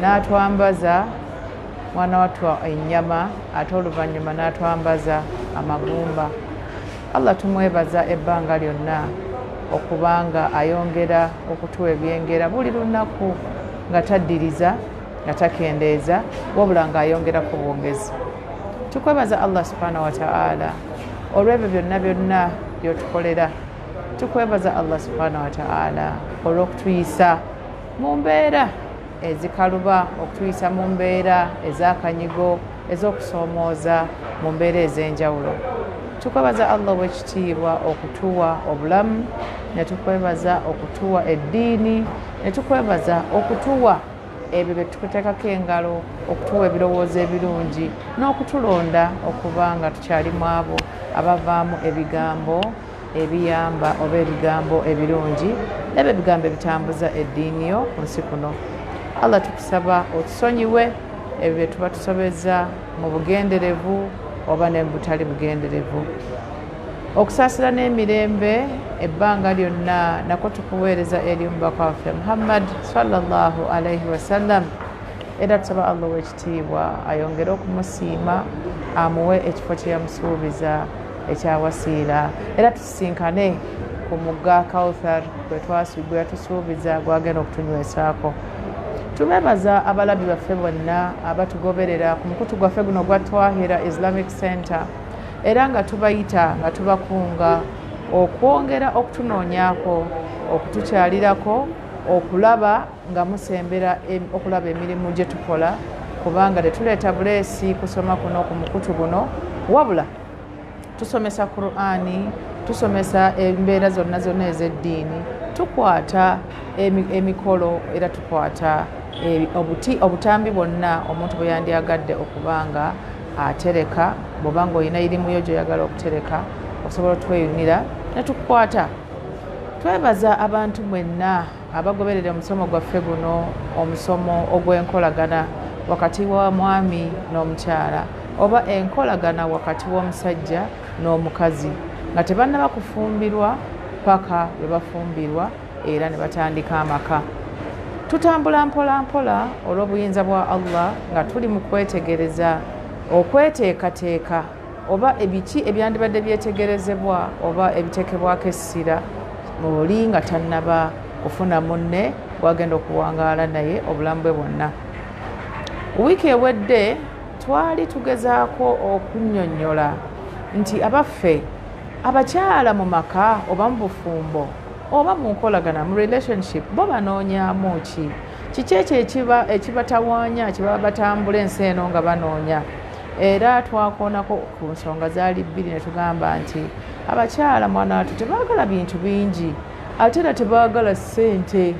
n'atwambaza mwana wattu ennyama ate oluvannyuma n'atwambaza amagumba allah tumwebaza ebbanga lyonna okubanga ayongera okutuwa ebyengera buli lunaku nga taddiriza nga takendeeza wabula nga ayongera ku bwongezi tukwebaza allah subhanahu wataala olw'ebyo byonna byonna byotukolera tukwebaza allah subhanahu wataala olw'okutuyisa mu mbeera ezikaluba okutuyisa mu mbeera ez'akanyigo ez'okusoomooza mu mbeera ez'enjawulo tukwebaza allah owekitiibwa okutuwa obulamu ne tukwebaza okutuwa eddiini ne tukwebaza okutuwa ebyo bye tukuteekako engalo okutuwa ebirowoozo ebirungi n'okutulonda okuba nga tukyali mu abo abavaamu ebigambo ebiyamba oba ebigambo ebirungi nabyo ebigambo ebitambuza eddiini yo ku nsi kuno allah tukusaba otusonyiwe ebyo bye tuba tusobeza mu bugenderevu oba ne butali bugenderevu okusaasira n'emirembe ebbanga lyonna nako tukuweereza eri omubaka waffe muhammad salllahu alaihi wasallam era tusaba allah owekitiibwa ayongere okumusiima amuwe ekifo kye yamusuubiza ekya wasiira era tusisinkane ku mugga kauthar gwe yatusuubiza gwagenda okutunywesaako tubebaza abalabi baffe bonna abatugoberera ku mukutu gwaffe guno gwa twahira islamic center era nga tubayita nga tubakunga okwongera okutunoonyako okutukyalirako okulaba nga musembera okulaba emirimu gye tukola kubanga tetuleeta buleesi kusoma kuno ku mukutu guno wabula tusomesa qurani tusomesa embeera zonna zonna ez'eddiini tukwata emikolo era tukwata e, obuti obutambi bwonna omuntu bwe yandyagadde okuba nga atereka bwoba nga olina irimu yo gyoyagala okutereka osobola otweyunira netukukwata twebaza abantu mwenna Abagoberera omusomo gwaffe guno omusomo ogw'enkolagana wakati wa mwami n'omukyala oba enkolagana wakati w'omusajja n'omukazi nga tebannaba kufumbirwa paka bwe bafumbirwa era ne batandika amaka tutambula mpola mpola olw'obuyinza bwa allah nga tuli mu kwetegereza okweteekateeka oba ebiki ebyandibadde byetegerezebwa oba ebitekebwako essira oli nga tannaba kufuna munne gwagenda okuwangaala naye obulamu bwe bwonna wiiki ewedde twali tugezaako okunyonyola nti abaffe abakyala mu maka oba mu bufumbo oba mu nkolagana mu relationship bo banoonyamu ki kiki ekyo ekibatawaanya kibaba batambula ensi eno nga banoonya era twakoonako ku nsonga zaali bbiri ne tugamba nti abakyala mwana watu tebaagala bintu bingi ate era tebaagala ssente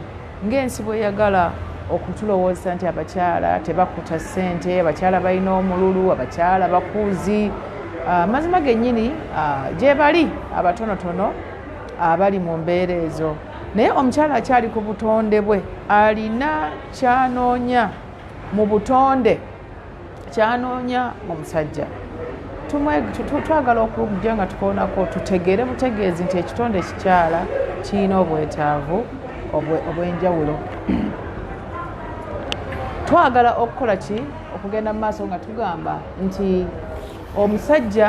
ng'ensi bweyagala okutulowooza nti abakyala tebakuta ssente abakyala balina omululu abakyala bakuuzi ah, amazima gennyini ah, gyebali abatonotono abali mu mbeera ezo naye omukyala akyali ku butonde bwe alina kyanoonya mu butonde kyanoonya mu musajja twagala okujja nga tukoonako tutegeere butegeezi nti ekitonde ekikyala kirina obwetaavu obw'enjawulo twagala okukola ki okugenda mu maaso nga tugamba nti omusajja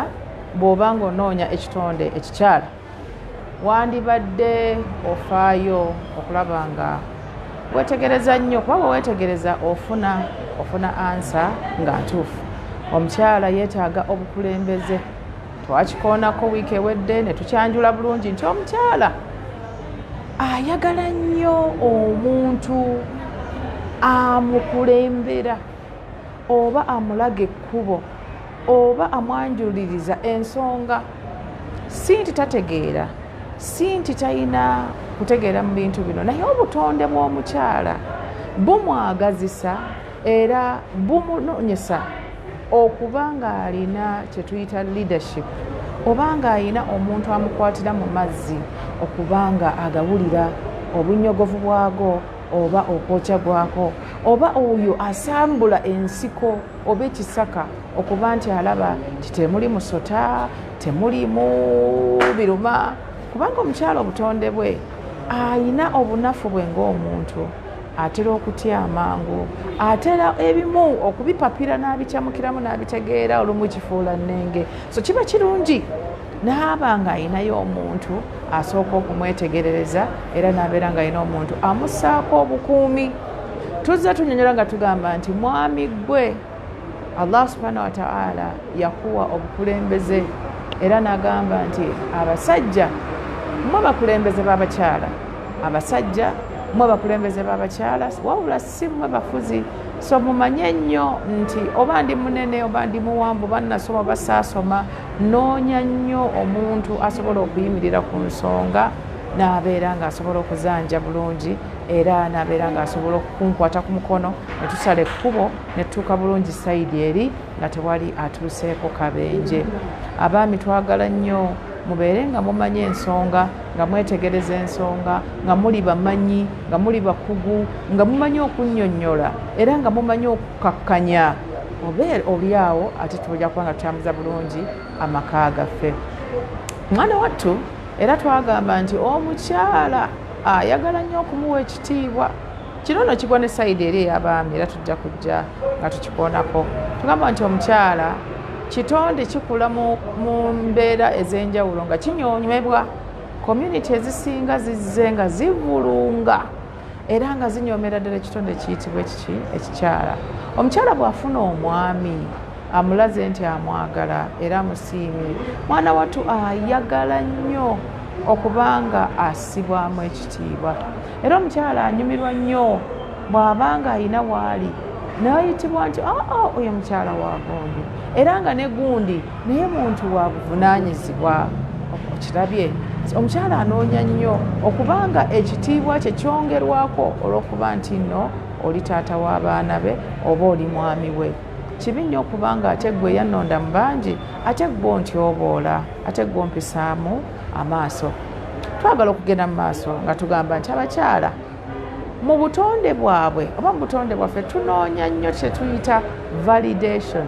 bw'oba nga onoonya ekitonde ekikyala wandibadde ofaayo okulaba nga wetegereza nnyo kuba bwe wetegereza ofuna ofuna ansa nga ntuufu omukyala yeetaaga obukulembeze twakikoonako wiiki ewedde ne tukyanjula bulungi nti omukyala ayagala nnyo omuntu amukulembera oba amulaga ekkubo oba amwanjuliriza ensonga si nti tategeera si nti talina kutegeera mu bintu bino naye obutonde bw'omukyala bumwagazisa era bumunonyesa okuba ng'alina kye tuyita leadership oba ng'alina omuntu amukwatira mu mazzi okuba nga agawulira obunyogovu bwago oba okwokya gwako oba oyo asambula ensiko oba ekisaka okuba nti alaba nti temuli musota temulimu biruma kubanga omukyala obutonde bwe ayina obunafu bwe ngaomuntu atera okutya amangu atera ebimu okubipapira n'abikyamukiramu n'abitegeera olumu kifuula nnenge so kiba kirungi naaba nga ayinayo omuntu asooka okumwetegerereza era nabeera nga alina omuntu amusaako obukuumi tuzze tunyonyola nga tugamba nti mwami gwe allah subhanahu wataala yakuwa obukulembeze era nagamba nti abasajja mwe abakulembeze babakyala abasajja mwe abakulembeze babakyala wabula si mwe bafuzi so mumanye nnyo nti oba ndi munene oba ndi muwanvu oba nasoma oba saasoma noonya nnyo omuntu asobola okuyimirira ku nsonga n'abeera ng'asobola okuzanja bulungi era nabeera ng'asobola okunkwata ku mukono ne tusala ekkubo ne tutuuka bulungi sayidi eri nga tewali atuuseeko kabenje abaami twagala nnyo mubeere nga mumanyi ensonga nga mwetegereza ensonga nga muli bamanyi nga muli bakugu nga mumanyi okunnyonnyola era nga mumanyi okukakkanya oba oli awo ate tuja kuba nga tutambuza bulungi amaka gaffe mwana wattu era twagamba nti omukyala ayagala nnyo okumuwa ekitiibwa kino no kigwa ne sayidi eri eyabaami era tujja kujja nga tukikoonako tugamba nti omukyala kitonde kikula mu mbeera ez'enjawulo nga kinyonyebwa community ezisinga zizze nga zivulunga era nga zinyomera ddala ekitonde ekiyitibwa ekiki ekikyala omukyala bw'afuna omwami amulaze nti amwagala era amusiimye mwana wattu ayagala nnyo okuba nga asibwamu ekitiibwa era omukyala anyumirwa nnyo bw'aba nga alina waali nayitibwa nti aa ah, ah, oyo mukyala wa gundi era nga ne gundi naye muntu wa buvunanyizibwa okirabye omukyala anoonya nnyo okuba nga ekitiibwa kye kyongerwako olw'okuba nti nno oli taata w'abaana be oba oli mwami we kibi nnyo okubanga ate gwe yannonda mu bangi ate gwe ontyoboola ate gwe ompisaamu amaaso twagala okugenda mu maaso nga tugamba nti abakyala mu butonde bwabwe oba mu butonde bwaffe tunoonya nnyo kyetuyita validation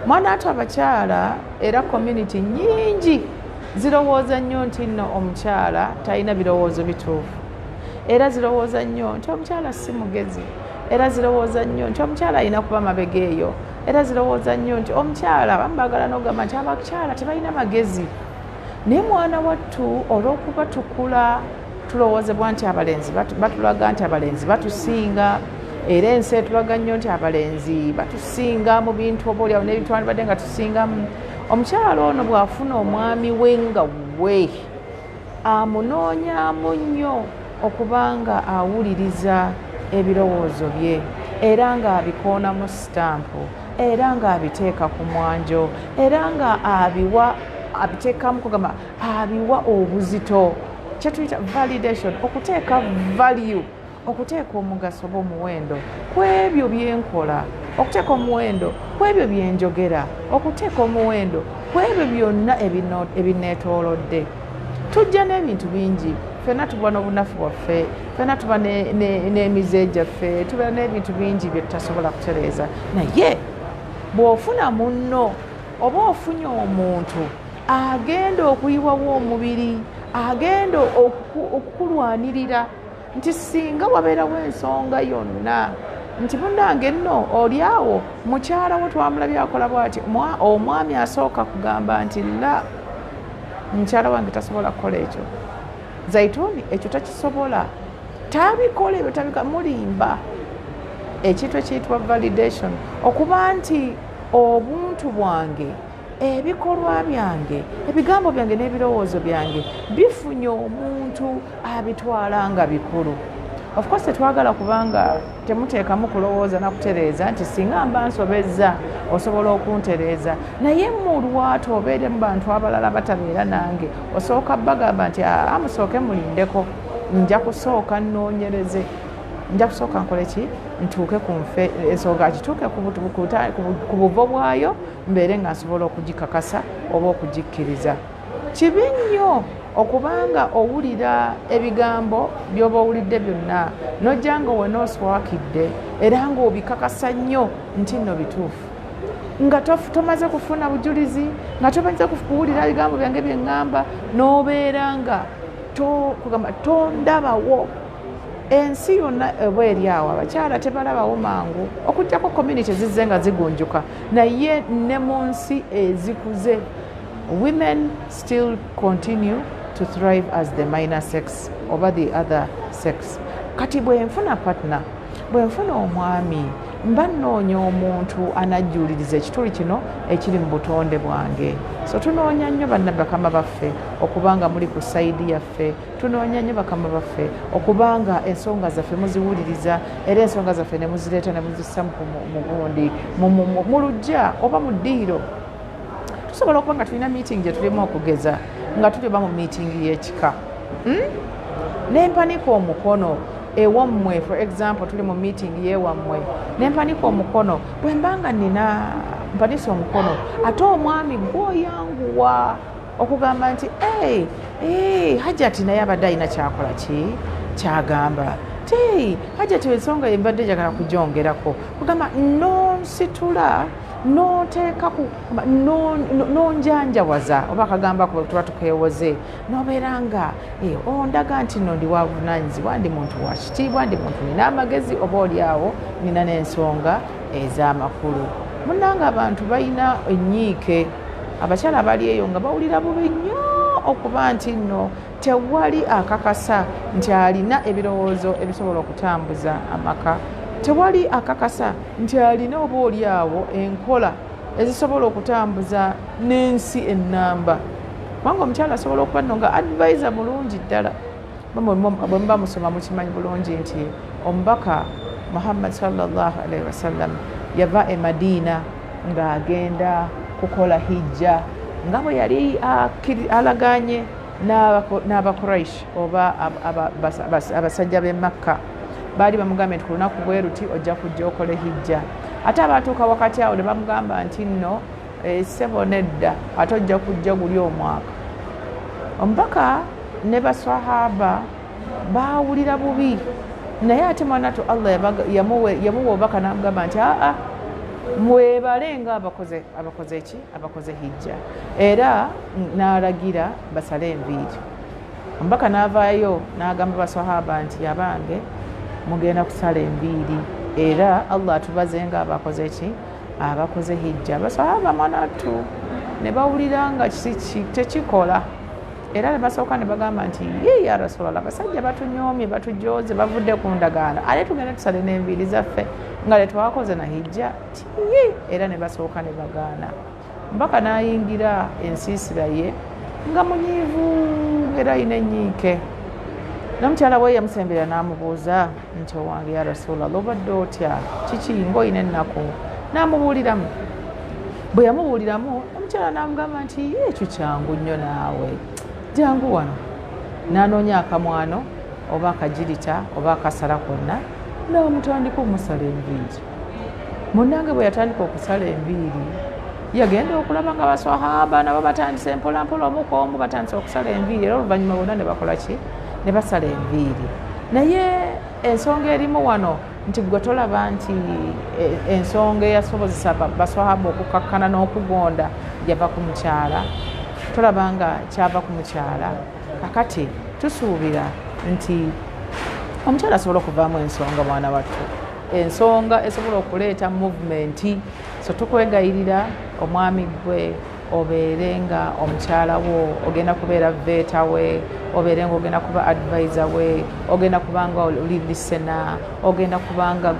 mwana atu abakyala era community nyingi zirowooza nnyo nti nno omukyala talina birowoozo bituufu era zirowooza nnyo nti omukyala si mugezi era zirowooza nnyo nti omukyala alina kuba mabega eyo era zirowooza nnyo nti omukyala abamu bagala nogamba nti abakyala tebalina magezi naye mwana wattu olw'okuba tukula tulowoozebwa nti abalenzi batulaga nti abalenzi batusinga era ensi etulaga nnyo nti abalenzi batusinga mu bintu oba olyawo n'ebintu wandibadde nga tusingamu omukyala ono bw'afuna omwami we nga we Amunoonyaamu nnyo okuba ng'awuliriza ebirowoozo bye era ng'abikoonamu sitampu era ng'abiteeka ku mwanjo era ng'abiwa abiteekamu kugamba abiwa obuzito kyetuyita validation okuteeka value okuteeka omugaso oba omuwendo ku ebyo bye nkola okuteeka omuwendo ku ebyo bye njogera okuteeka omuwendo ku ebyo byonna ebineetoolodde tujja n'ebintu bingi fena tuba n'obunafu bwaffe fena tuba n'emize gyaffe tubeera n'ebintu bingi bye tutasobola kutereeza naye bw'ofuna munno oba ofunye omuntu agenda okuyiwawo omubiri agenda okukulwanirira nti singa wabeerawo ensonga yonna nti munange nno oli awo mukyala wo twamulabye akola bwati omwami asooka kugamba nti la mukyala wange tasobola kukola ekyo zaituni ekyo takisobola tabikola ebyo tabika mulimba ekintu ekiyitibwa validation okuba nti obuntu bwange ebikolwa byange ebigambo byange n'ebirowoozo byange bifunye omuntu abitwala nga bikulu ofcourse tetwagala kubanga temuteekamu kulowooza nakutereeza nti singa mba nsobezza osobola okuntereeza naye mulwatu obeere mu bantu abalala batabeera nange osooka bagamba nti amusooke ah, ah, mulindeko nja kusooka nnoonyereze nja kusooka nkole ki ntuuke ku nfe ensonga kituuke ku buvo bwayo mbeere nga nsobola okugikakasa oba okugikkiriza kibi nnyo okubanga owulira ebigambo byoba owulidde byonna nojja nga owenaoswakidde era nga obikakasa nnyo nti nno bituufu nga tomaze kufuna bujulizi nga tomaze kuwulira ebigambo byange byeŋŋamba n'obeera nga kugamba tondabawo ensi yonna oba eri awo abakyala tebalabawo mangu okujjako community zizze nga zigunjuka naye ne mu nsi ezikuze women still continue to thrive as the minor sex oba the other sex kati bwenfuna partner bwenfuna omwami mba nnoonya omuntu anajjuuliriza ekituli kino ekiri mu butonde bwange so tunoonya nnyo bannabakama baffe okuba nga muli ku sayidi yaffe tunoonya nnyo bakama baffe okuba nga ensonga zaffe muziwuliriza era ensonga zaffe ne muzireeta ne muzissa mu gundi mu lujja oba mu ddiiro tusobola okuba nga tulina meeting gye tulimu okugeza nga tuli oba mu meeting y'ekika hmm? nempanika omukono ewammwe for example tuli mu meeting yewammwe nempanika omukono bwemba nga nina mpanisa omukono ate omwami gwoyanguwa okugamba nti hey, hey, hajati naye abadde alina kyakola ki kyagamba ti hajati ensonga yembadde njagala kujongerako kugamba nonsitula noteeka nonjanjawaza oba akagamba ku tuba tukewoze nobeera nga eh, ondaga nti no ndi wavunanyizibwa ndi muntu wakitiibwa ndi muntu nina amagezi oba olyawo nina nensonga ez'amakulu munanga abantu balina enyiike abakyala bali eyo nga bawulira bubi nnyo okuba nti nno tewali akakasa nti alina ebirowoozo ebisobola okutambuza amaka tewali akakasa nti alina oba oli awo enkola ezisobola okutambuza n'ensi ennamba kubanga omukyala asobola okuba nno nga advisa mulungi ddala bwemuba musoma mukimanyi bulungi nti omubaka muhammad salllah alaihi wasallam yava e madiina ng'agenda kukola hijja nga bwe yali alagaanye n'abakuraish oba abasajja b'e makka baali bamugambye nti ku lunaku bwe luti ojja kujja okole hijja ate abaatuuka wakati awo ne bamugamba nti nno eh, ssebo nedda ate ojja kujja guli omwaka omubaka ne baswahaba baawulira bubi naye ate mwanatu allah yamuwa obubaka namugamba nti aa mwebale nga abakoze abakoze ki abakoze hijja era n'alagira basale enviiri omubaka n'avaayo n'agamba baswahaba nti abange mugenda kusala enviiri era allah atubaze nga abakoze ki abakoze hijja baswahaba mwanatu ne bawulira nga tekikola era nebasooka nebagamba nti ye ya rasulllah abasajja batunyoomye batujooze bavudde ku ndagaano ale tugende tusale n'enviiri zaffe nga letwakoze na hijja tiyi era nebasooka nebagaana mpaka n'ayingira ensiisira ye nga munyiivu era ayina enyiike nomukyala we yamusembera n'amubuuza nti owange ya rasulallah obadde otya kiki ngaolina ennaku namubuuliramu bwe yamubuuliramu omukyala namugamba nti ekyo kyangu nnyo naawe jangu wano nanoonya akamwano oba akagirita oba akasala konna namutandika omusala enviiri munange bwe yatandika okusala enviiri yagenda okulaba nga baswahaba nabo batandise mpolampola omuka omu batandise okusala enviiri era oluvannyuma bonna ne bakola ki ne basala enviiri naye ensonga erimu wano nti gwe tolaba nti e, ensonga eyasobozesa baswahaba okukakkana n'okugonda yava ku mukyala tolaba nga kyava ku mukyala kakati tusuubira nti omukyala asobola okuvaamu ensonga mwana wattu ensonga esobola okuleeta muvumenti so tukwegayirira omwami gwe obeere nga omukyala wo ogenda kubeera veeta we obeere nga ogenda kuba advisa we ogenda kubanga olilisena ogenda kubanga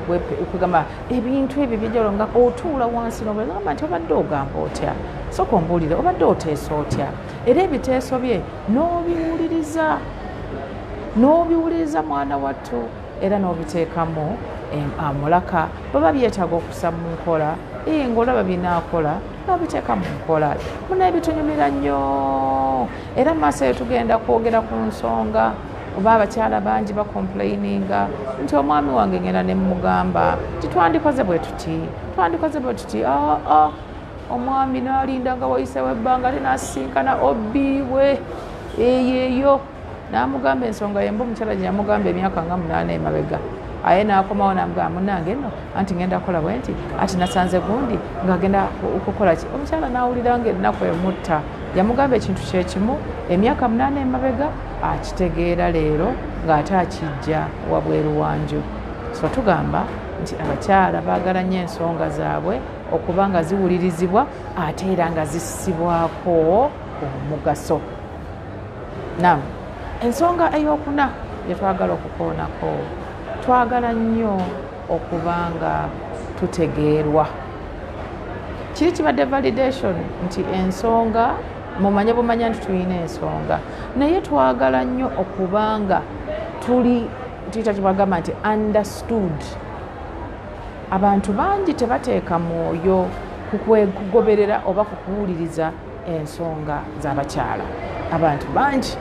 kwegamba ebintu ebyo byejalo nga otuula wansi nobegamba nti obadde ogamba otya soka ombuulire obadde oteesa otya era ebiteeso bye n'obiwuliriza n'obiwuliriza mwana wattu era n'obiteekamu amulaka baba byetaaga okusa mu nkola ee ngaolaba binaakola babiteeka mu nkola muna ebitunyumira nnyo era mu maaso eyo tugenda kwogera ku nsonga oba abakyala bangi bakomplaininga nti omwami wange ngenda ne mugamba titwandikoze bwe tuti twandikoze bwe tuti aa ah, ah, omwami nalinda nga wayisewo ebbanga linasisinkana obi we eyeyo n'amugamba ensonga yemba omukyala gye yamugamba emyaka nga munaana emabega aye n'akomawo namugamba munange no anti ngenda kukola bwe nti ati nasanze gundi ng'agenda okukola ki omukyala n'awulira nga ennaku emutta yamugamba ekintu kyekimu emyaka munaana emabega akitegeera leero ng'ate akijja wabweru wanju so tugamba nti abakyala baagala nnyo ensonga zaabwe okuba nga ziwulirizibwa ate era nga zissibwako omugaso nam ensonga eyokuna gyetwagala okukoonako twagala nnyo okuba nga tutegeerwa kiri kibadde validation nti ensonga mumanye bumanya nti tulina ensonga naye twagala nnyo okuba nga tuli tuyita kyebagamba nti understood abantu bangi tebateeka mwoyo kugoberera oba kukuwuliriza ensonga z'abakyala abantu bangi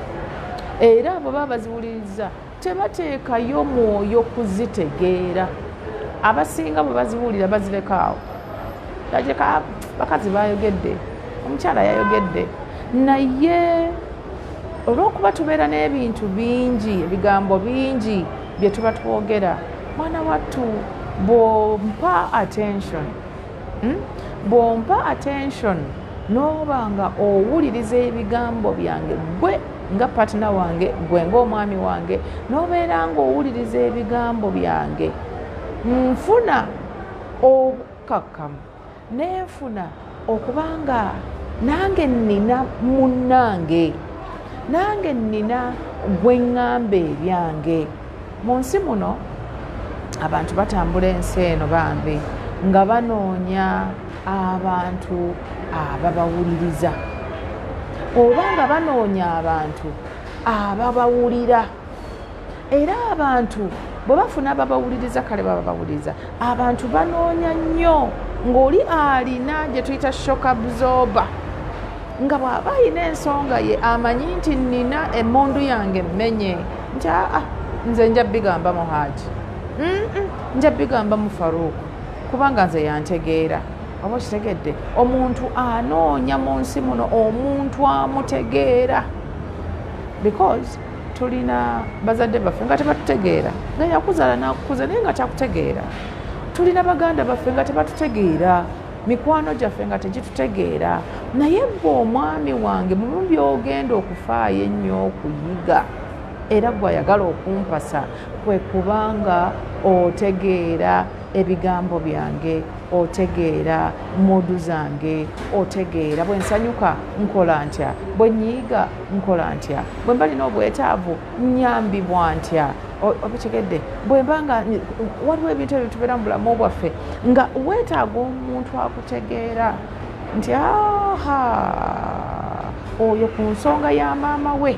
era abo baba baziwuliriza tebateekayo mwoyo kuzitegeera abasinga bwe baziwulira bazirekawo ageka bakazi bayogedde omukyala yayogedde naye olwokuba tubeera n'ebintu bingi ebigambo bingi bye tuba twogera mwana wattu bwompa attention hmm? bw'ompa attention n'oba nga owuliriza ebigambo byange gwe nga patina wange gwe ngaomwami wange n'obeera ng'owuliriza ebigambo byange nfuna obukakkamu nenfuna okuba nga nange nina munnange nange nina gwe ŋŋamba ebyange Mu nsi muno abantu batambula ensi eno bambi nga banoonya abantu ababawuliriza oba nga banoonya abantu ababawulira era abantu bwe bafuna babawuliriza kale baba bawuliriza abantu banoonya nnyo ng'oli alina gye tuyita shokabzoba nga bw'aba alina ensonga ye amanyi nti nnina emmundu yange mmenye nti aa ah, ah, nze nja bigamba mu haaji nja bigamba mu faruuku kubanga nze yantegeera oba okitegedde omuntu anoonya mu nsi muno omuntu amutegeera because tulina bazadde baffe nga tebatutegeera nga yakuzaala nakukuza naye nga takutegeera tulina baganda baffe nga tebatutegeera mikwano gyaffe nga tegitutegeera naye gwe omwami wange mumu byogenda okufaayo ennyo okuyiga era gwayagala okumpasa kwe kubanga otegeera ebigambo byange otegeera muudu zange otegeera bwensanyuka nkola ntya bwenyiiga nkola ntya bwe mba lina obwetaavu nyambibwa ntya obitegedde bwe mba nga waliwo ebintu ebyo tubeera mu bulamu bwaffe nga weetaaga omuntu akutegeera nti aha oyo ku nsonga ya maama we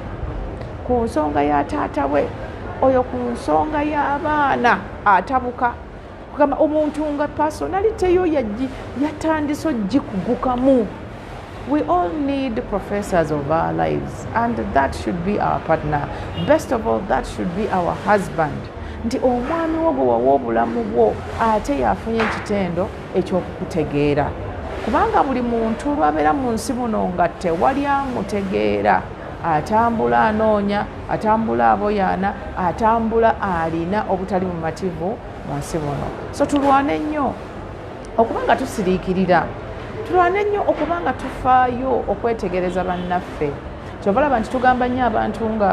ku nsonga ya taata we oyo ku nsonga y'abaana atabuka kugamba omuntu nga personality yo yajji yatandise ojjikugukamu we all need professors of our lives and that should be our partner best of all that should be our husband nti omwami wo gwe wawa obulamu bwo ate yafunye ekitendo ekyokukutegeera kubanga buli muntu lwabeera mu nsi muno nga tewali amutegeera atambula anoonya atambula aboyaana atambula alina obutali bumativu mu nsi muno so tulwane nnyo okuba nga tusiriikirira tulwane nnyo okuba nga tufaayo okwetegereza bannaffe kyova laba nti tugamba nnyo abantu nga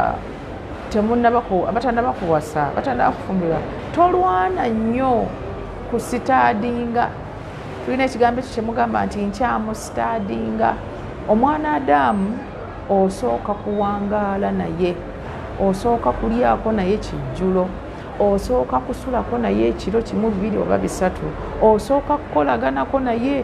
abatanaba kuwasa abatanaba kufumbirwa tolwana nnyo ku sitaadinga tulina ekigambo ekyo kyemugamba nti nkyamu sitaadinga omwana adamu osooka kuwangaala naye osooka kulyako naye kijjulo osooka kusulako naye ekiro kimu bibiri oba bisatu osooka kukolaganako naye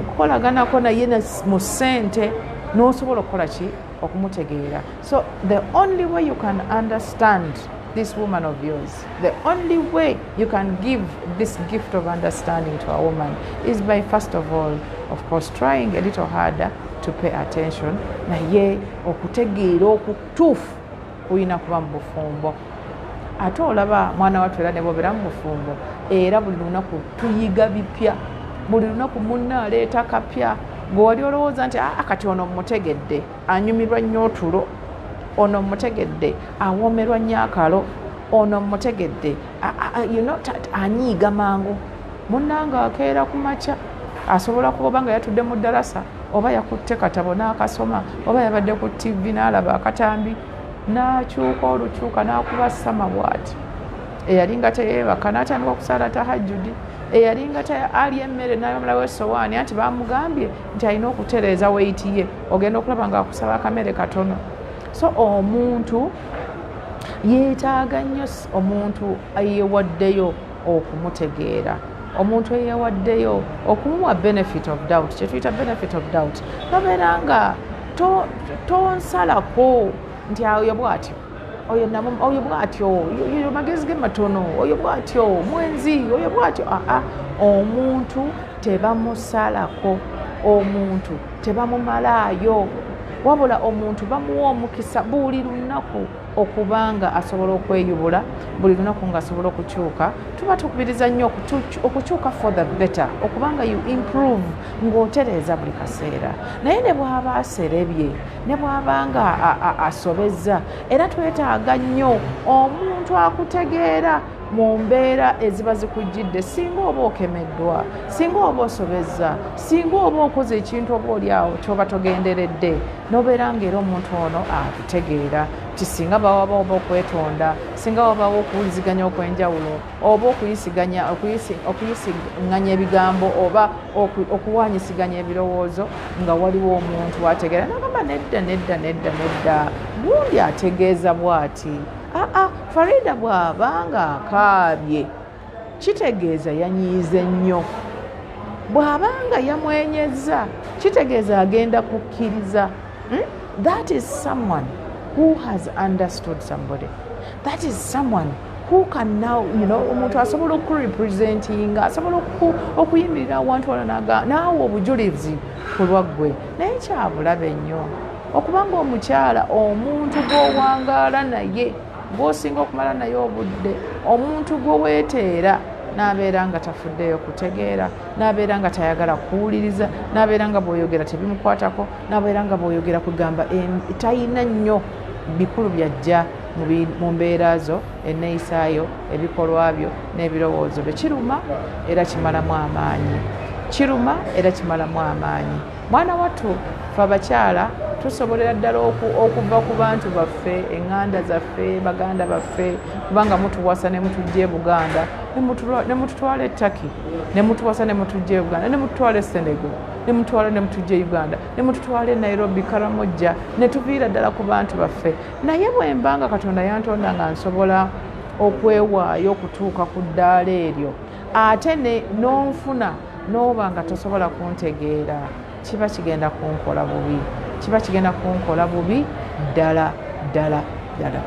kukolaganako naye mu sente n'osobola okukola ki okumutegeera so the only way you can understand this woman of yours. The only way you can give this gift of understanding to a woman is by, first of all, of course, trying a little harder to pay attention, naye okutegeera okutuufu oyina kuba mu bufumbo ate olaba mwana watu era nebobera mu bufumbo era buli lunaku tuyiga bipya buli lunaku munna aleeta kapya gwewali olowooza nti aa ah, kati ono mutegedde anyumirwa nnyo otulo ono mutegedde awoomerwa nnyo akalo ono mutegedde anyiiga mangu munnanga akeera ku makya asobola kuba oba nga yatudde mu ddarasa oba yakutte katabo n'akasoma oba yabadde ku ttivi n'alaba akatambi n'akyuka olukyuka n'akuba sama bwati eyalinga teyeebaka n'atandika okusaala tahajjudi eyalinga ali emmere nayomulawo esowaani anti bamugambye nti alina okutereeza weiti ye ogenda okulaba nga akusaba akamere katono so omuntu yeetaaga nnyo omuntu eyewaddeyo okumutegeera omuntu eyewaddeyo okumuwa benefit of doubt kyetuyita benefit of doubt nobeera nga tonsalako nti ayo bwatyo oyo nabo oyo bwatyo oyo magezi ge matono oyo bwatyo mwenzi oyo bwatyo aa ah, ah. omuntu tebamusalako omuntu tebamumalaayo wabula omuntu bamuwa omukisa buli lunaku okuba nga asobola okweyubula buli lunaku nga asobola okukyuka tuba tukubiriza nnyo okukyuka for the better okubanga you improve ng'otereeza buli kaseera naye ne bwaba aserebye ne bwaba nga asobezza era twetaaga nnyo omuntu akutegeera mu mbeera eziba zikujjidde singa oba okemeddwa singa oba osobezza singa oba okoze ekintu oba oli awo kyoba togenderedde nobeera nga era omuntu ono akutegeera nti singa bawaba oba okwetonda singa wabawo okuwuliziganya okwenjawulo oba okuyisiganya okuyisiganya ebigambo oba okuwanyisiganya ebirowoozo nga waliwo omuntu ategeera nagamba nedda nedda nedda nedda gundi ategeeza bwati aa farida bwaba nga akaabye kitegeeza yanyiize nnyo bw'aba nga yamwenyezza kitegeeza agenda kukkiriza hmm? that is someone who has understood somebody that is someone who can now you know omuntu asobola okurepresentinga asobola okuyimirira awantu wala naawe obujulizi ku lwaggwe naye kyabulabe nnyo okubanga omukyala omuntu gwowangaala naye gwosinga okumala naye obudde omuntu gwe weeteera n'abeera nga tafuddeeyo kutegeera n'abeera nga tayagala kuwuliriza n'abeera nga bwoyogera tebimukwatako n'abeera nga bwoyogera kugamba talina nnyo bikulu byajja mu mbeera zo enneeyisaayo ebikolwa byo n'ebirowoozo bye kiruma era kimalamu amaanyi kiruma era kimalamu amaanyi mwana wattu fe abakyala tusobolera ddala okuva ku bantu baffe eŋŋanda zaffe baganda baffe kubanga mutuwasa ne mutujja e buganda ne mututwala etaki ne mutuwasa ne mutujja e buganda ne mututwala e senego ne mutwala ne mutujja e uganda ne mututwala e nairobi karamojja ne tuviira ddala ku bantu baffe naye bwemba nga katonda yantonda nga nsobola okwewaayo okutuuka ku ddaala eryo ate nonfuna n'oba nga tosobola kuntegeera kiba kigenda kunkola bubi kiba kigenda kunkola bubi ddala ddala ddala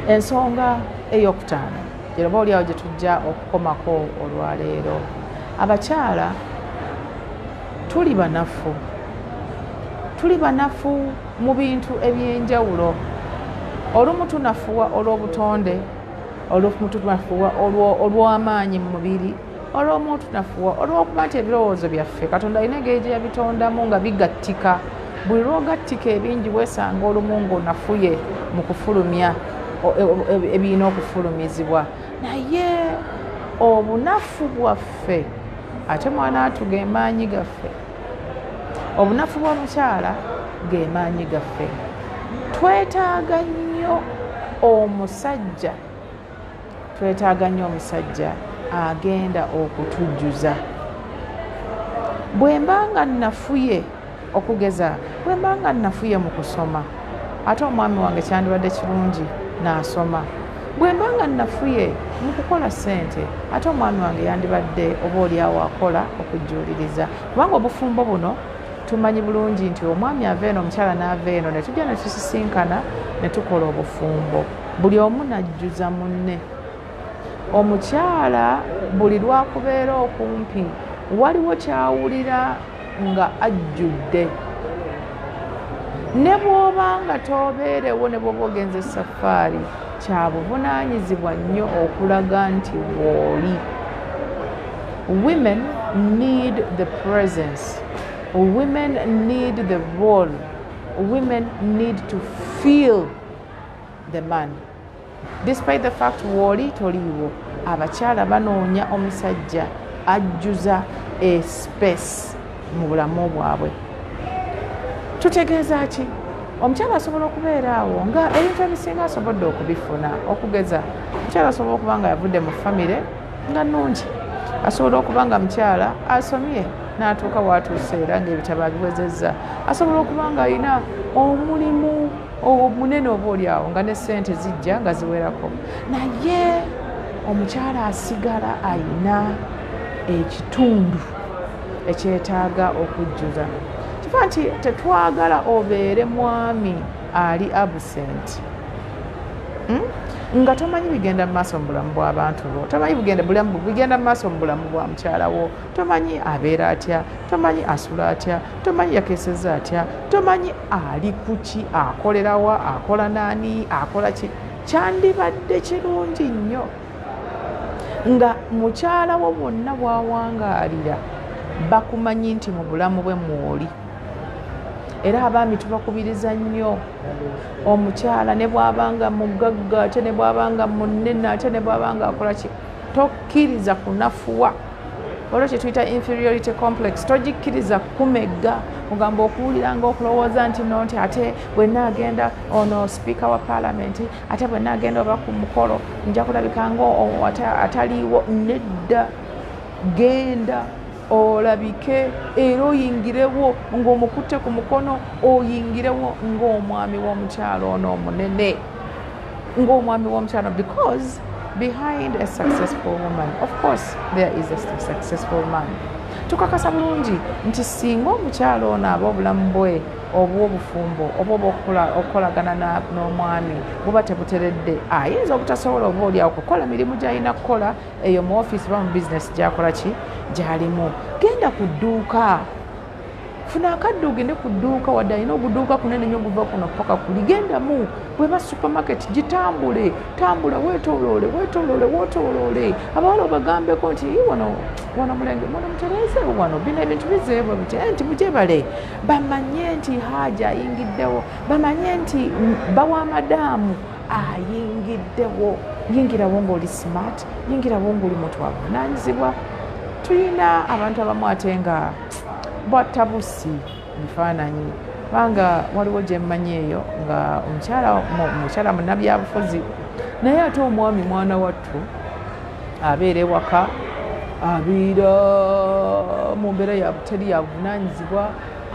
ensonga eyokutaano yeroba oliawo gye tujja okukomako olwaleero abakyala tuli banafu tuli banafu mu bintu ebyenjawulo olumu tunafuwa olw'obutonde olumu tunafuwa olw'amaanyi mu mubiri olw'omu tunafuwa olw'okuba nti ebirowoozo byaffe katonda alina engeri gye yabitondamu nga bigattika buli lwogattika ebingi weesanga olumu ngaonafuye mu kufulumya e, e, e, ebirina okufulumizibwa naye obunafu bwaffe ate mwana watu gemaanyi gaffe obunafu bw'omukyala gemaanyi gaffe twetaaga nnyo omusajja twetaaga nnyo omusajja agenda okutujjuza bwe mba nga nafuye okugeza bwe mba nga nafuye mu kusoma ate omwami wange kyandibadde kirungi naasoma bwe mba nga nafuye mu kukola ssente ate omwami wange yandibadde oba olyawo akola okujjuuliriza kubanga obufumbo buno tumanyi bulungi nti omwami ava eno omukyala n'ava eno ne tujja ne tusisinkana ne tukola obufumbo buli omu najjuza munne omukyala buli lwakubeera okumpi waliwo kyawulira nga ajjudde ne bwoba nga tobeerewo ne bwoba ogenza esafaari kya buvunaanyizibwa nnyo okulaga nti wooli women need the presence women need the role women need to feel the man despite the fact wooli toliiwo abakyala banoonya omusajja ajjuza a space mu bulamu bwabwe tutegeeza ki omukyala asobola okubeera awo nga ebintu ebisinga asobodde okubifuna okugeza omukyala asobola okuba nga yavudde mu famire nga nungi asobola okuba nga mukyala asomye n'atuuka waatuuse era ngaebitabo abiwezezza asobola okuba nga alina omulimu munene oba oli awo nga ne sente zijja nga ziwerako naye omukyala asigala ayina ekitundu ekyetaaga okujjuza kifa nti tetwagala obeere mwami ali absent hmm? nga tomanyi bigenda mu maaso mu bulamu bw'abantu bo tomanyi bulamu bigenda mu maaso mu bulamu bwa mukyala wo tomanyi abeera atya tomanyi asula atya tomanyi yakeseza atya tomanyi ali kuki akolerawa akola naani akola ki kyandibadde kirungi nnyo nga mukyala wo bwonna bwawangaalira bakumanyi nti mu bulamu bwe mwoli era abaami tubakubiriza nnyo omukyala ne bwabanga mugagga ate ne bwabanga munene ate ne bwabanga akola ki tokkiriza kunafuwa olwo kyetuyita inferiority complex togikkiriza kukumegga ogamba okuwulira nga okulowooza nti no nti ate bwenna agenda ono sipiika wa paalamenti ate bwenna agenda oba ku mukolo nja kulabika nga ataliiwo nedda genda olabike era oyingirewo ng'omukutte ku mukono oyingirewo ng'omwami w'omukyalo ono omunene ng'omwami w'omukyalo because behind a successful woman of course there is a successful man tukakasa bulungi nti singa omukyalo ono aba obulamu bwe obw'obufumbo oba obaokukolagana n'omwami buba tebuteredde ayinza obutasobola oba olyawo kukola mirimu gyalina kukola eyo mu ofiisi oba mu bizinesi gyakola ki gyalimu genda ku dduuka funa akadde ogende ku dduuka wadde alina oguduuka kunene nyo guva kuno paka kuli gendamu bweba supermarket gitambule tambula wetoloole wetoloole wotoloole abawala obagambeko nti wano wano mulenge mwana mutereezeewo wano bino ebintu bizeebwa biti eh, nti mujebale bamanye nti haaja ayingiddewo bamanye nti bawa madaamu ayingiddewo yingirawo ng'oli smart yingirawo ng'oli muntu wavunanyizibwa tulina abantu abamu ate nga bwatabusi bifaananyi kubanga waliwo gyemmanyi eyo nga omukyala munabyabufuzi naye ate omwami mwana wattu abeera ewaka abeera mu mbeera yabuteri yavunanyizibwa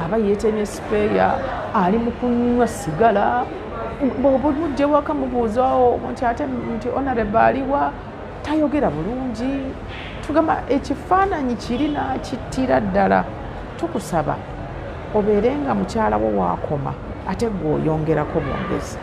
aba yetemye sipeeya ali mu kunywa sigala bwoba omujjewaka mubuuzawo nti ate nti onareba aliwa tayogera bulungi tugamba ekifaananyi kiri nakittira ddala tukusaba obeere nga mukyalawo waakoma ate gwe oyongerako bwongezi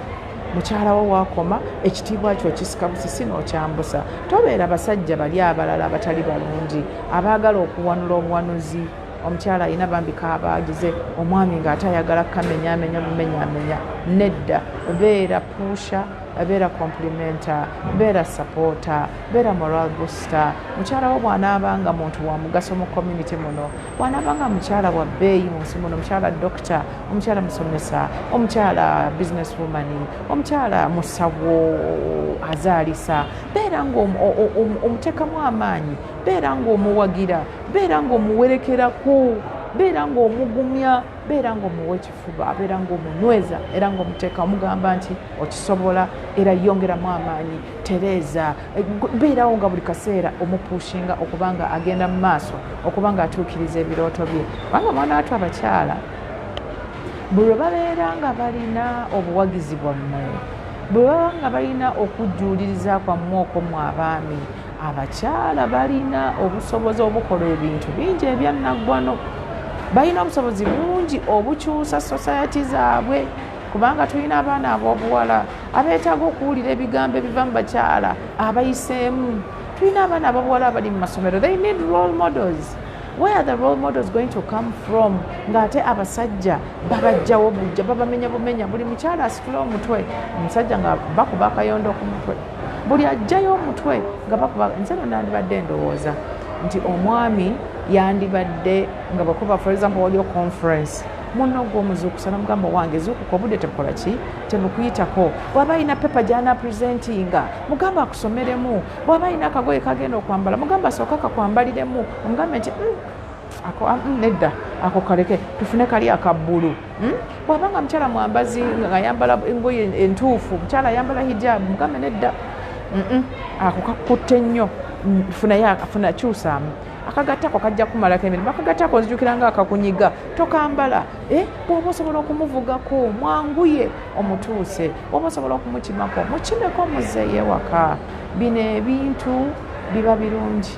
mukyalawo waakoma ekitiibwa kyo kisika busisi n'okyambusa tobeera basajja bali abalala abatali balungi abaagala okuwanula obuwanuzi omukyala alina bambi kabaagize omwami ng'ate ayagala kamenyamenya bumenyamenya nedda beera puusha beera complimenta beera sapota beera moral busta mukyala wo bwanaaba nga muntu wa mugaso mu community muno bwanaaba nga mukyala wa bbeeyi mu nsi muno omukyala dokita omukyala musomesa omukyala business woman omukyala musawo azaalisa beera ngaomuteekamu amaanyi beera ngaomuwagira beera ng'omuwerekerako beera ng'omugumya beera ng'omuwa ekifuba beera ng'omunyweza era ng'omuteeka omugamba nti okisobola era yongeramu amaanyi tereeza beerawo nga buli kaseera omupuushinga okuba nga agenda mu maaso okuba nga atuukiriza ebirooto bye kubanga mwana watu abakyala buli lwe babeera nga balina obuwagizi bwammwe bwe baba nga balina okujjuuliriza kwammwe okwo mu abaami abakyala balina obusobozi obukola ebintu bingi ebyannaggwano balina obusobozi bungi obukyusa sosayati zaabwe kubanga tulina abaana ab'obuwala abeetaaga okuwulira ebigambo ebiva mu bakyala abayiseemu tulina abaana ab'obuwala abali mu masomero they need role models where are the role models going to come from ng'ate abasajja babajjawo bujja babamenya bumenya buli mukyala asitula omutwe omusajja nga bakuba akayondo ku mutwe buli ajjayo omutwe nga bakuba nze no nandibadde ndowooza nti omwami yandibadde nga bakuba for example waliyo conference munna ogwomuzuukusa namugamba wange zuukuka obudde tebukola ki tebukuyitako bwaba alina pepa gyana presentinga mugamba akusomeremu bwaba alina akagoye kagenda okwambala mugamba asooka kakwambaliremu omugambe nti mm, ako ah, mm, nedda ako kaleke tufune kali akabbulu hmm? bwaba nga mukyala mwambazi ngayambala engoye entuufu mukyala ayambala hijabu mugambe nedda ako kakutte nnyo mm, funayafuna kyusaamu akagattako kajja kumalako emirimu akagattako nzijukira nga akakunyiga tokambala eh, bwoba osobola okumuvugako mwanguye omutuuse bwoba osobola okumukimako mukimeko muzeeyo ewaka bino ebintu biba birungi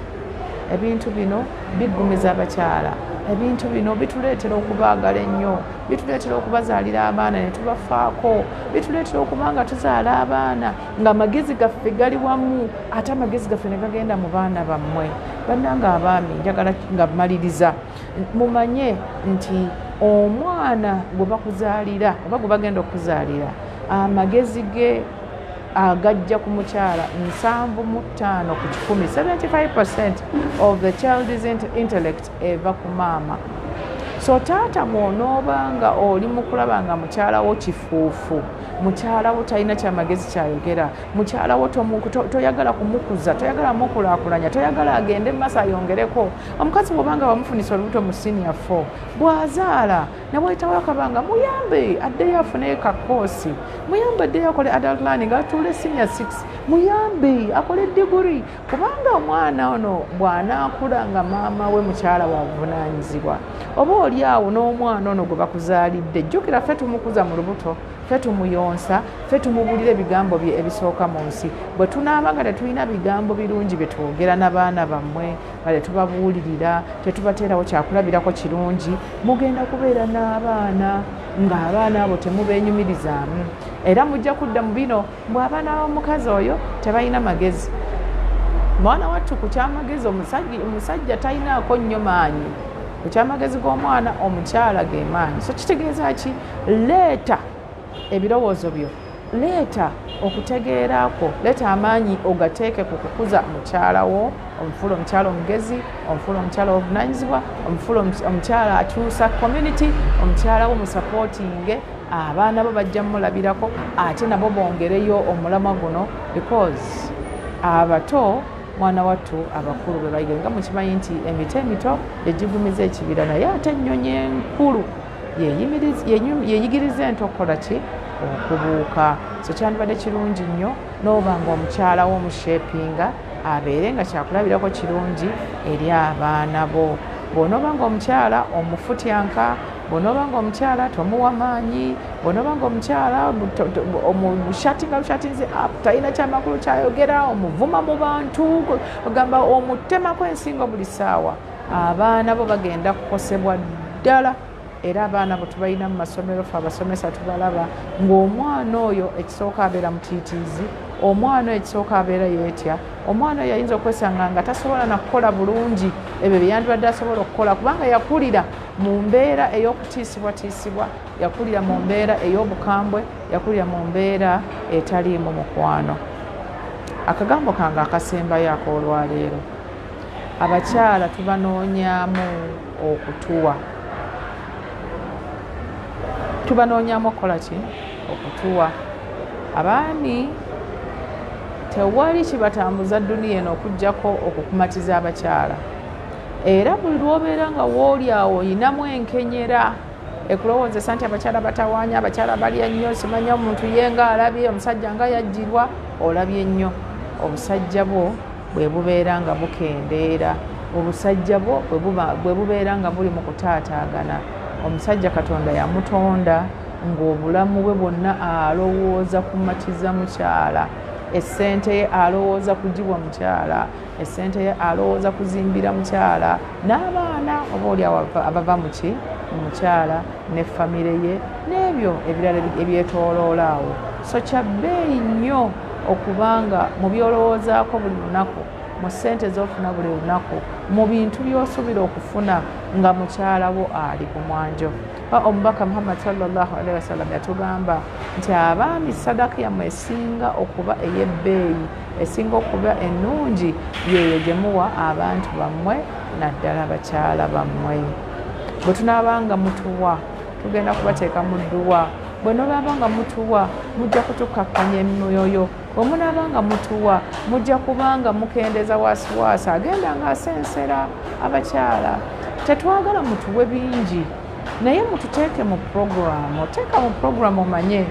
ebintu bino biggumiza abakyala ebintu bino bituleetera okubaagala ennyo bituleetera okubazaalira abaana ne tubafaako bituleetera okuba nga tuzaala abaana ng'amagezi gaffe gali wamu ate amagezi gaffe ne gagenda mu baana bammwe bannanga abaami njagala nga maliriza mumanye nti omwana gwe bakuzaalira oba gwe bagenda okuzaalira amagezi ge agajja ku mukyala nsanvu mu ttaano ku kikumi 75 percent of the child's intellect eva ku maama so taata bw'onooba nga oli mu kulaba nga mukyalawo kifuufu mukyalawo talina kyamagezi kyayogera mukyalawo toyagala kumukuza toyagala mukulakulanya toyagala agende mu maaso ayongereko omukazi bw'obanga bamufunisa olubuto mu siniya fo bw'azaala newayitawo akabanga muyambe addeyo afune kakoosi muyambe addeyo akole adult learning atuule senior six muyambe akole diguri kubanga omwana ono bw'anaakula nga maama we mukyala wabuvunaanyizibwa oba oli awo n'omwana ono gwe bakuzaalidde jjukira ffe tumukuza mu lubuto ffe tumuyonsa ffe tumubuulira ebigambo bye ebisooka mu nsi bwe tunaaba nga tetulina bigambo birungi bye twogera n'abaana bammwe kale tubabuulirira tetubateerawo kyakulabirako kirungi mugenda kubeera n'abaana ng'abaana abo temubeenyumirizaamu era mujja kudda mu bino mbw abaana bamukazi oyo tebalina magezi mwana wattu ku kyamagezi omusajja talinaako nnyo maanyi ku kyamagezi g'omwana omukyala ge maanyi so kitegeeza ki leeta ebirowoozo byo leeta okutegeera kwo leeta amaanyi ogateeke ku kukuza mukyala wo omufuula omukyala omugezi omufuula omukyala wobuvunanyizibwa omufuula omukyala akyusa community omukyala wo musapootinge abaana bo bajja mumulabirako ate nabo bongereyo omulama guno because abato mwana wattu abakulu bwe bayiga nga mukimanyi nti emiti emito gyegigumiza ekibira naye ate ennyonyi enkulu yeyigiriza ento okukola ki okubuuka so kyandibadde kirungi nnyo n'oba nga omukyala wo omushepinga abeere nga kyakulabirako kirungi eri abaana bo bw'onooba nga omukyala omufutyanka bw'onooba nga omukyala tomuwa maanyi bw'onooba nga omukyala omushatinga bushatinzi up talina kyamakulu kyayogera omuvuma mu bantu ogamba omutemako ensingo buli saawa abaana bo bagenda kukosebwa ddala era abaana bwe tubalina mu masomero fe abasomesa tubalaba ng'omwana oyo ekisooka abeera mutiitiizi omwana oyo ekisooka abeera yeetya omwana oyo ayinza okwesanga nga tasobola nakukola bulungi ebyo byeyandibadde asobola okukola kubanga yakulira mu mbeera ey'okutiisibwatiisibwa yakulira mu mbeera ey'obukambwe yakulira mu mbeera etaliimu mukwano akagambo kange akasembayo akoolwaleero abakyala tubanoonyamu okutuwa tubanoonyamu okukola ki okutuwa abaami tewali kibatambuza duniya eno okugjako okukumatiza abakyala era buli lwobeera nga wooli awo oyinamu enkenyera ekulowoozesa nti abakyala batawaanya abakyala balya nnyo simanya omuntu ye nga alabye omusajja nga yajjirwa olabye nnyo obusajja bwo bwe bubeera nga bukendeera obusajja bwo bwe bubeera nga buli mu kutaataagana omusajja katonda yamutonda ng'obulamu bwe bwonna alowooza kumatiza mukyala essente ye alowooza kugibwa mukyala essente ye alowooza kuzimbira mukyala n'abaana oba oli abava muki mukyala ne famire ye n'ebyo ebirala ebyetooloola awo so kya bbeeyi nnyo okuba nga mu byolowoozaako buli lunaku mu ssente z'ofuna buli lunaku mu bintu by'osuubira okufuna nga mukyala wo ali ku mwanjo omubaka muhammad salllahalihi wasallam yatugamba nti abaami sadaka yammwe esinga okuba ey'ebbeeyi esinga okuba ennungi yeeyo gye muwa abantu bammwe naddala bakyala bammwe bwe tunaaba nga mutuwa tugenda kubateeka mu dduwa bwe nobaaba nga mutuwa mujja kutukakkanya emyoyo bwe munaaba nga mutuwa mujja kuba nga mukendeza wasiwasi agenda nga asensera abakyala tetwagala mutuwe bingi naye mututeeke mu puroguramu oteeka mu puroguramu omanye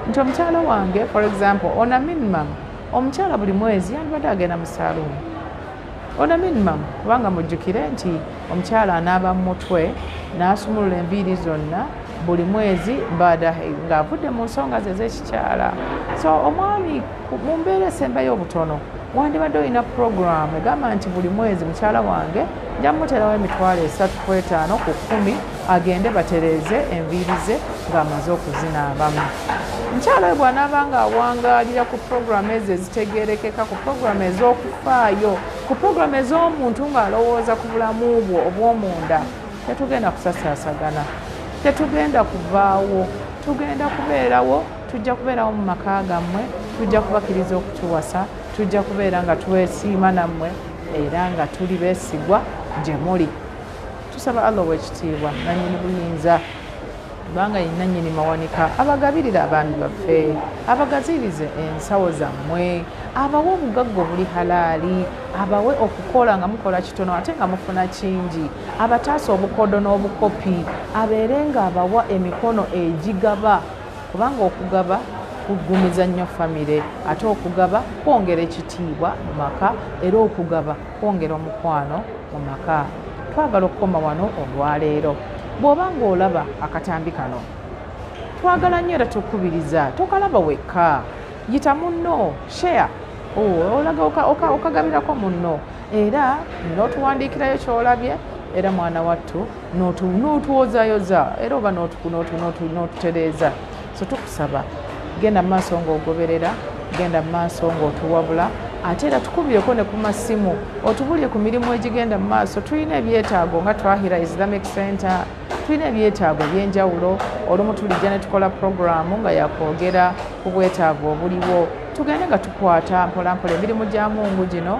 nti omukyala wange for example ona minimum omukyala buli mwezi yandibadde agenda mu saluuni Ona minimum kubanga mujjukire nti omukyala anaaba mu mutwe n'asumulula enviiri zonna buli mwezi baada ng'avudde mu nsonga ze ez'ekikyala so omwami mu mbeera esembayo obutono wandibadde olina puroguramu egamba nti buli mwezi mukyala wange nja muterawo emitwalo esatu ku etaano ku kkumi agende batereeze enviiri ze ng'amaze okuzinaabamu. Mukyala we bw'anaaba ng'awangaalira ku pulogulaamu ezo ezitegeerekeka, ku pulogulaamu ez'okufaayo, ku pulogulaamu ez'omuntu ng'alowooza ku bulamu bwo obw'omunda, tetugenda kusasaasagana, tetugenda kuvaawo, tugenda kubeerawo, tujja kubeerawo mu maka gammwe, tujja kubakiriza okutuwasa, tujja kubeera nga twesiima nammwe era nga tuli beesigwa gye muli. tusaba allah owekitiibwa nanyini buyinza kubanga yenanyini mawanika abagabirira abaami baffe abagaziirize ensawo zammwe abawe obugagga obuli halaali abawe okukola nga mukola kitono ate nga mufuna kingi abataasa obukodo n'obukopi abeere nga abawa emikono egigaba kubanga okugaba kuggumiza nnyo famire ate okugaba kwongera ekitiibwa mu maka era okugaba kwongera omukwano mu maka twagala okukoma wano olwaleero bw'oba ng'olaba akatambi kano twagala nnyo era tukubiriza tokalaba wekka yita munno share oh, olaga okagabirako munno era n'otuwandiikirayo kyolabye era mwana wattu n'otuwozayoza era oba n'otutereeza so tukusaba genda maaso ng'ogoberera genda maaso ng'otuwabula ate era tukubyeko ne ku masimu otubulire ku mirimu egigenda mu maaso tulina ebyetaago nga twahira islamic center tulina ebyetaago ebyenjawulo olumu tulijja ne tukola puroguramu nga yakwogera ku bwetaavu obuliwo tugende nga tukwata mpolampola emirimu gya mungu gino